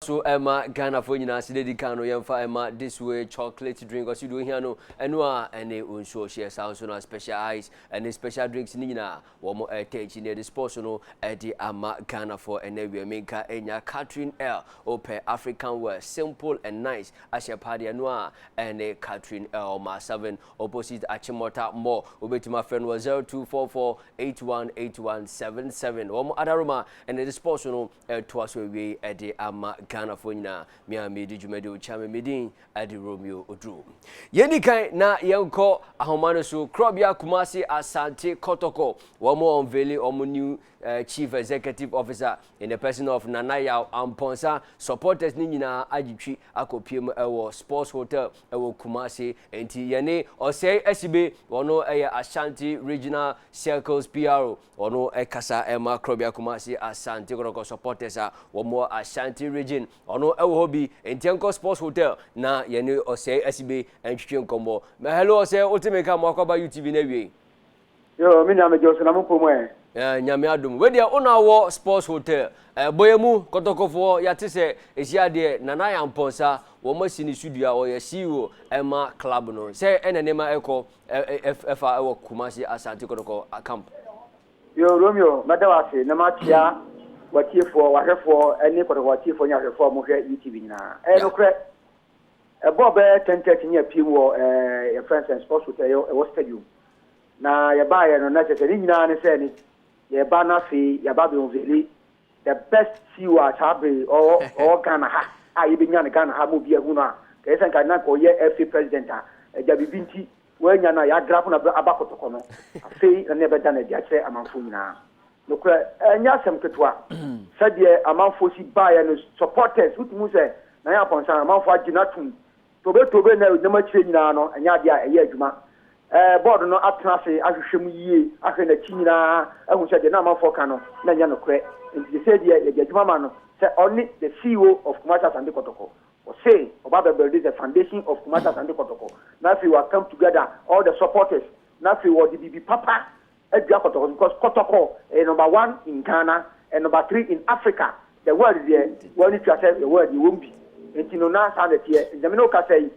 So ɛma Ghana foɔ nyinaa se dɛdi kan no yɛnfa ɛma this way chocolate drink ɔse deɛ ohia no ɛno a ɛne nsuo ɔhyeɛ saa nso na special ice ɛne special drinks ne nyinaa wɔn ɛtɛ akyi na yɛde sports no ɛde ama Ghana foɔ ɛnɛ awia menka enya Catherine L opɛ African wear simple and nice ahyɛ paa deɛ ɛno a ɛne Catherine L ma 7 opposite Achimota mall wobɛtumi afrɛ no wɔ 0244 818177 wɔn adaroma ɛne de sports no ɛtoa so awie yi de ama Ghanafoɔ nyinaa. Me a medi dwumadi wo kyame me din de Romeo Oduro. Yɛndi kan na yɛnkɔ ahoma no so. Korɔbea Kumasi Asante Kɔtɔkɔ, wɔn ɔnveli wɔn new uh, chief executive officer in the person of Nana Yaw Ampɔnsa. Supporters ne nyinaa agyetwi akɔpie mu ɛwɔ Sports Hotel ɛwɔ Kumasi. Enti yɛne ɔsɛe asibe wɔn ɛyɛ Ashanti Regional Circles PRO Ɔno kasa ma Korɔbea Kumasi Asante Kɔtɔkɔ supporters a wɔn wɔ Ashanti region. Ɔno wɔ hɔ bi nti nkɔ sports hotel na yɛne ɔsɛe asibe ntwitwe nkɔmmɔ. Mɛ hello ɔsɛe wote me ka mo akɔba UTV na awiei. Yo, me nua megye ɔsɛ na mo pom ɛ. Eh, nyame adom. Wei deɛ wona wɔ sports hotel. Eh, bɔyɛ mu kɔtɔkɔfoɔ yɛate sɛ ɛsi adeɛ Nana Yampɔnsa wɔn asi ne so dua ɔyɛ CEO ɛma club no. Sɛ ɛna nneɛma ɛkɔ ɛfa ɛwɔ Kumasi Asante Kɔtɔkɔ camp. Yo Romeo mɛda wo ase na makyea w'atiefoɔ w'ahwɛfoɔ ne Kɔtɔkɔ atiefoɔ ne ahwɛfoɔ a wɔhwɛ UTV nyinaa. Ɛyɛ nokorɛ ɛbɔɔ bɛyɛ ten thirty ne apiem wɔ ɛɛ yɛfrɛ no sɛ sports hotel ɛyɛ ɛwɔ stadium na yɛbaeɛ no na kyerɛ sɛ ne nyinaa ne sɛ ne yɛba no afei yɛaba abɛunvele The best CEO a saa bere yi ɔwɔ ɔwɔ Ghana ha a yɛbɛnya no Ghana ha ma obiara ahu no a, nka ɛsɛ nka na nka ɔyɛ FA president a, agya biribi nti wɔannya no a yɛadrapo no aba kɔtɔkɔ no, afei na na yɛbɛda no adi akyerɛ amanfoɔ nyinaa. Nokorɛ, ɛnyɛ asɛm ketewa sɛdeɛ amanfoɔ si baeɛ no, supporters, wotumi hu sɛ Nana Aponsan, amanfoɔ agye no atom Tobetobe ne nam akyire nyinaa no nyɛ adeɛ a ɛyɛ adwuma. Bɔɔdo no atena ase ahwehwɛ mu yie ahwɛ na akyi nyinaa ahu sɛ deɛ na amanfoɔ ka no na ɛnyɛ nokorɛ. Enti sesei deɛ yɛde adwuma ma no sɛ ɔne the CEO of Kumasi Asante Kɔtɔkɔ. Ɔse ɔba abɛ builde the foundation of Kumasi Asante Kɔtɔkɔ na afei wa come together all the supporters na afei ɔde biribi papa adua kɔtɔkɔ no because kɔtɔkɔ ɛyɛ number one in Ghana and number three in Africa the world deɛ wɔn ani tua sɛ yɛwɔ deɛ wɔn bi nti no na saa na ɛteɛ nti na me ne wo kasa yi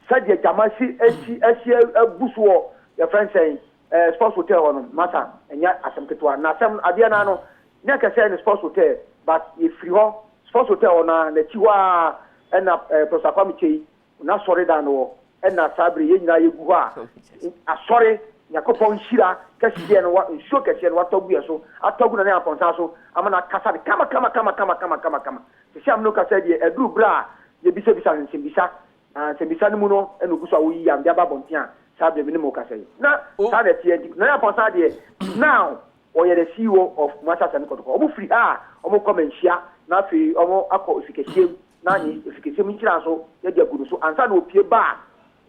sɛdeɛ gyama si asi asi abu so wɔ yɛfrɛ no sɛn ɛɛ sports hotel hɔ no masa ɛnyɛ asɛm ketewa na asɛm adeɛ naa no nyɛ kɛsɛ ne sports hotel but yɛfiri hɔ sports hotel hɔ no a n'akyi hɔ a ɛna ɛɛ Professor Kwame Kyei N'asɔredan no hɔ na saa bere yɛn nyinaa yɛgu hɔ a Asɔre, Nyankopɔn nhyira kɛseɛ no, nsuo kɛseɛ no watɔ agu yɛn so, atɔ agu Nana Amponsah so ama no akasa no kamakamakama. Sɛsɛ a me ne wo kasa yi deɛ, ɛduru bere a yɛbisabisa no nsɛmbisa, na nsɛmbisa no mu no na ɔgu so a ɔreyi yam de aba abɔnten a saa bere me ne mo rekasa yi. Na saa na ɛteɛ nti Nana Amponsah deɛ now ɔyɛ the CEO of Kumasi Asante Kɔtɔkɔ. Wɔfiri ha a wɔrekɔ Manhyia na afei wɔakɔ Ofikɛseɛ mu. na ne asikresiam nkyiraso no de agu no so ansa na opue ba a,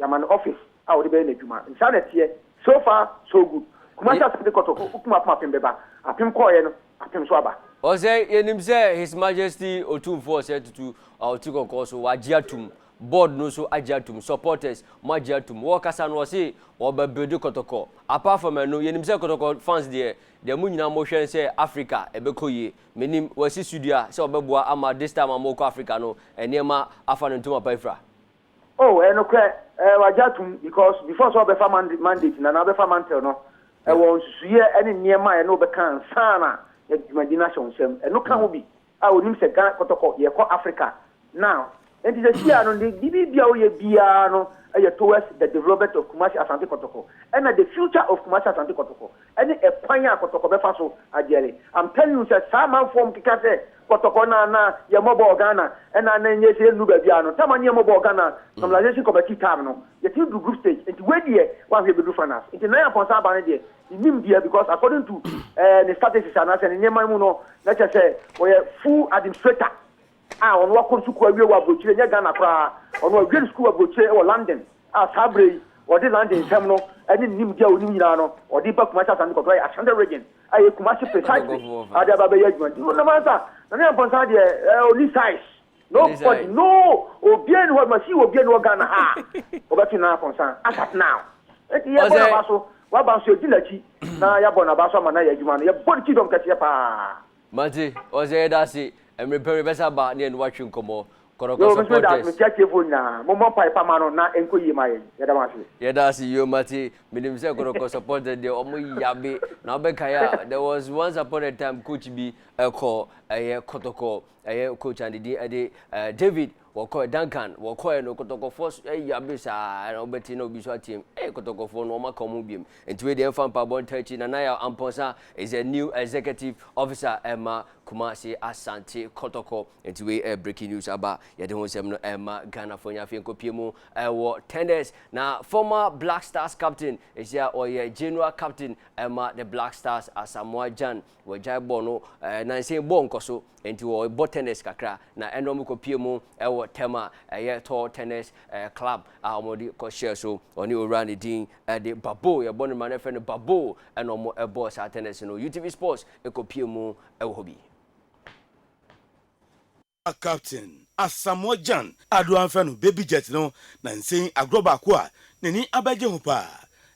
yɛama no office a ɔde bɛyɛ n'adwuma. Saa na ɛteɛ. So far so good. Kumasi asɛm de kɔtɔ okum apem apem bɛba. Apem kɔeɛ no, apem nso aba. Ɔsɛ yɛnim sɛ His Majesty Otumfoɔ Ɔsɛe Tutu a ɔte kɔkɔɔ so, wagye atom, board no nso agye atom, supporters, moagye atom. Wɔɔkasa no ɔse wɔɔba builde kɔtɔkɔ. Apart from ɛno, yɛnim sɛ kɔtɔkɔ fans deɛ, deɛ mo nyinaa mohwɛ ne sɛ Africa ɛbɛkɔ yie. Menim wasi sudua sɛ ɔbɛboa ama this time a mo rekɔ Africa no nneɛma afa no ntoma pa afira. Oh ɛnokorɛ ɛɛ wagye atom because before sɛ ɔbɛfa mand mandate no anaa ɔbɛfa mantle no Yeah. ɛwɔ nsusuiɛ ɛne nneɛma a ɛne wo bɛka ansa na yɛde dwumadi no ahyɛ wo nsam. Ɛno ka ho bi a ɔnim sɛ Ghana kɔtɔkɔ yɛrekɔ Africa now. Enti sesia no ne biribi a woyɛ biara no yɛ towards the development of Kumasi Asante Kɔtɔkɔ ɛna the future of Kumasi Asante Kɔtɔkɔ ɛne ɛkwan a Kɔtɔkɔ bɛfa so agyɛre. I'm telling you sɛ saa amanfoɔ a wɔkeka sɛ Kɔtɔkɔ na na yɛn mmɔbɔ wɔ Ghana ɛna na ɛnyɛ sɛ yɛnnu baabi a no time a ne yɛn mmɔbɔ wɔ Ghana normalization committee time no yɛtumi duru group stage nti wei deɛ woanhwɛ yɛbɛduru finals nti Nana Amponsah aba no deɛ menim deɛ because according to eh, ne strategies anaasɛ ne nneɛma mu no na kyɛ sɛ wɔyɛ full administrator a ɔno wakɔ nsukuu awie wɔ abrokyire ɛnyɛ Ghana koraa, ɔno wawie ne sukuu wɔ abrokyire wɔ London a saa berɛ yi ɔde London nsɛm no ɛne ne nimdeɛ a ɔnim nyinaa no ɔde ba Kumasi Asante Kɔtɔ ayɛ Ashanti Region a ɛyɛ Kumasi precisely a ɔde aba abɛyɛ adwuma nti no nam ansa Nana Nyampɔ Nsa deɛ ɛɛ ɔni size nobody no obiara ni hɔ ma si obiara ni hɔ Ghana ha a ɔbɛto Nana Nyampɔ Nsa as at now nti yɛbɔ n'aba so waba nso yɛdi n'akyi na yɛabɔ n'aba so ama no ayɛ adwuma no yɛbɔ no kingdom kɛseɛ paa. Mate, ɔsɛ yɛda ase. Mmere pɛ mebɛsa aba ne yɛne wo atwe nkɔmmɔ. Kɔtɔkɔ Yoo, me nso meda ase. supporters. Mekyia atiefoɔ nyinaa. Mommɔ mpae pa ma no na ɛnkɔ yie ma yɛn. Yɛda mo ase. Yɛda ase yoo mate. Menim sɛ kɔtɔkɔ supporters deɛ ɔmo yabe. Na wobɛkae a, there was once upon a time coach bi ɛkɔ ɛyɛ kɔtɔkɔ ɛyɛ coach a ne din ɛde eh, David Wɔkɔɛ, Duncan, wɔkɔɛ no, kɔtɔkɔfoɔ so, ei abere saa ara na wobɛte na obi nso ateam, ei kɔtɔkɔfoɔ no, wɔaka wɔn ho biom, nti wei deɛ ɛmfa mpaebɔ ntaa akyi, Nana Yaw Amponsah is the new executive officer ɛma Kumasi Asante Kɔtɔkɔ, nti wei ɛyɛ breaking news aba, yɛde ho nsɛm no ɛrema Ghanafoɔ nyinaa, afei nkɔpie mu ɛwɔ tenders, na former Black Stars captain, ɛsi a ɔyɛ general captain ɛma the Black Stars, Asamoah Gyan, Wɔagyae bɔɔl no eh, nansa yi bɔɔl nkɔ so, nti wɔbɔ tennis kakra, na ɛna wɔkɔpie mu wɔ tɛm a ɛyɛ tall tennis eh, club a wɔde kɔhyɛɛ so. Ɔne owura ne din eh, de Babo, yɛbɔ no ma no frɛ no Babo, ɛna wɔbɔɔ saa tennis no. UTV Sports kɔpie mu wɔ hɔ bi. Captain Asamoah Gyan Addo amfɛ no baby jet no na nsei agorɔ baako a n'ani abɛgye ho paa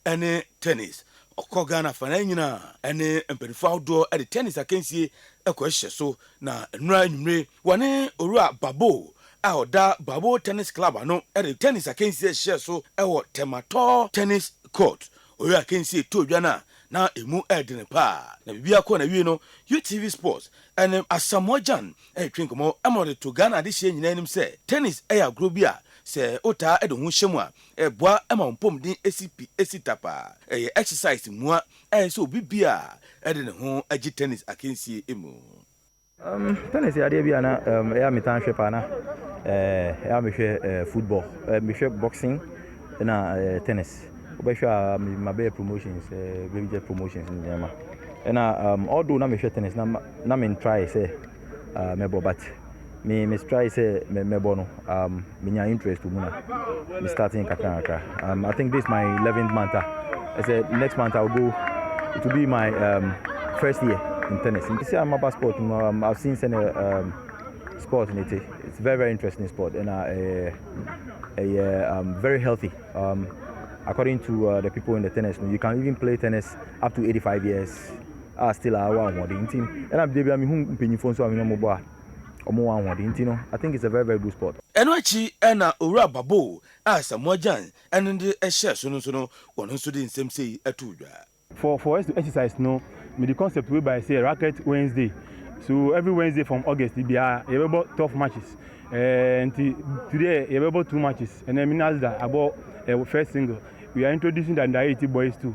ɛne tennis. Ɔkɔ Ghana afanaa nyinaa ɛne mpaninfoɔ ahodoɔ de tennis akansie kɔhyehyɛ so na nnora anwummere wɔne Owura Baboo a ɔda Baboo Tennis Club ano de tennis akansie hyehyɛɛ so wɔ Tɛmatɔɔ Tennis Court Ɔyɛ akansie too dwa no a na ɛmu yɛ dene paa. Na biribiara kɔɔ n'awiei no, UTV Sports ne Asamoah Gyan retwe nkɔmmɔ ma wɔde too Ghana adehyeɛ nyinaa anim sɛ Tennis yɛ agorɔ bi a sɛ wotaa de wo ho hyɛ mu a, ɛboa ma wo mpɔmuden si pi si tapa. Ɛyɛ exercise mua a ɛsɛ sɛ obi biara de ne ho gye tennis akansie mu. Umm tennis yɛ adeɛ bi a na ɛyɛ eh, a metaa hwɛ paa na eh, ɛyɛ a mehwɛ eh, football eh, mehwɛ boxing na eh, tennis wobɛhwɛ a mabɛyɛ promotions eh, bɛyɛ promotions ne nneɛma ɛna um, although na mehwɛ tennis na, na mentrae sɛ uh, mɛbɔ but me mestrae sɛ mɛbɔ no um, menya interest wɔ mu na me starting nkakrankakra um, i think this my 11th month a ah. ɛsɛ next month i'll go it will be my um, first year in tennis nti sɛ amaba sport mu um, i've seen sɛne um, sport ne te it's very very interesting sport ɛna ɛyɛ ɛyɛ um, very healthy um, according to uh, the people in the tennis you can even play tennis up to 85 years a ah, still a ah, wa ahoɔden nti ɛna bia bia mehu mpanyimfoɔ nso a menyɛ mobɔ a wɔn wɔ ahoɔden nti no I think it's a very very good sport. Ɛno akyi na Owura Barboo a Asamoah Gyan ne de hyɛɛ so no nso no wɔn nso de nsɛm sei too dwa. For for us to exercise no mede concept wei baeɛ sɛ Racket Wednesday so every Wednesday from August biara yɛbɛbɔ twelve matches eh, nti today yɛbɛbɔ two matches ɛnɛ me Nazda abɔ eh, first single we are introducing the under eighty boys too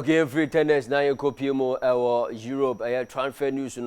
Okay, every tennis na yɛn kɔ pie mu ɛwɔ Europe ɛyɛ transfer news no.